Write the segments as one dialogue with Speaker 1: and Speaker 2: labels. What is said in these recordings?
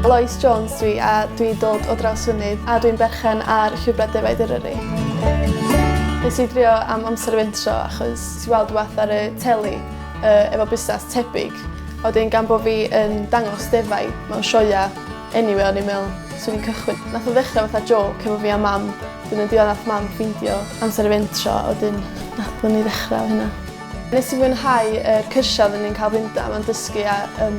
Speaker 1: Lois Jones dwi a dwi dod o Drawsfynydd a dwi'n berchen ar Llwybrau Defaid Eryri. Nes i drio am amser fentro achos ti weld rhywbeth ar y teli uh, efo busnes tebyg. A wedyn gan bod fi yn dangos defaid mewn sioia anyway o'n i'n meddwl swn i'n cychwyn. Nath o ddechrau fatha joc efo fi a mam. Wedyn yn diwedd nath mam ffeindio amser y fentro a wedyn nath ni ddechrau hynna. Nes i fwynhau yr cyrsiau oeddwn i'n cael fynd am a'n dysgu a um,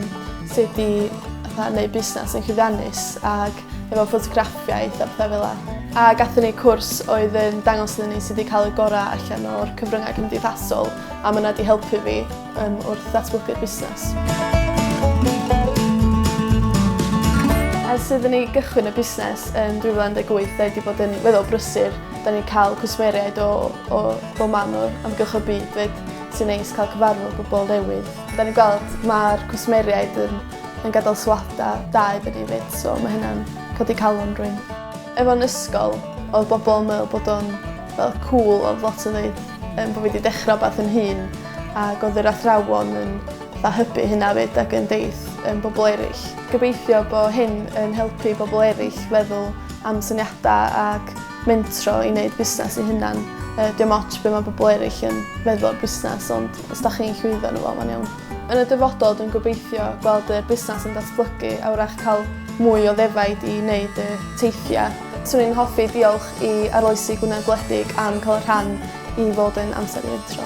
Speaker 1: sut i fatha, neud busnes yn llwyddiannus ac efo ffotograffiaeth a pethau fel yna. A gatho ni cwrs oedd yn dangos iddyn ni sydd wedi cael y gorau allan o'r cyfryngau cymdeithasol a mae yna wedi helpu fi um, wrth ddatblygu'r busnes. Ers iddyn ni gychwyn y busnes yn 2018, da wedi bod yn weddol brysur. Da ni'n cael cwsmeriaid o, o Bob man o Amgylch y Byd 'fyd. Sy'n neis cael cyfarfod pobl newydd. Da ni'n gweld ma'r cwsmeriaid yn yn gadel sylwada da iddyn ni 'fyd so ma' hynna'n codi calon rywun. Efo'n ysgol odd bobol yn meddwl bod o'n fel cŵl odd lot yn ddeud yym bo' fi 'di dechra wbath yn hŷn ag odd yr athrawon yn fatha hybu hynna 'fyd ag yn deud yym bobol eryll. Gobeithio bo' hyn yn helpu bobol eryll feddwl am syniada ag mentro i wneud busnes ei hunan. Uh, dim ots be mae bobl eraill yn meddwl o'r busnes, ond os da chi'n llwyddo yn y fo, mae'n iawn. Yn y dyfodol, dwi'n gobeithio gweld y busnes yn datblygu a wrach cael mwy o ddefaid i wneud y teithiau. Swn i'n hoffi diolch i arloesi Gwynedd Gwledig am cael y rhan i fod yn amser i'r intro.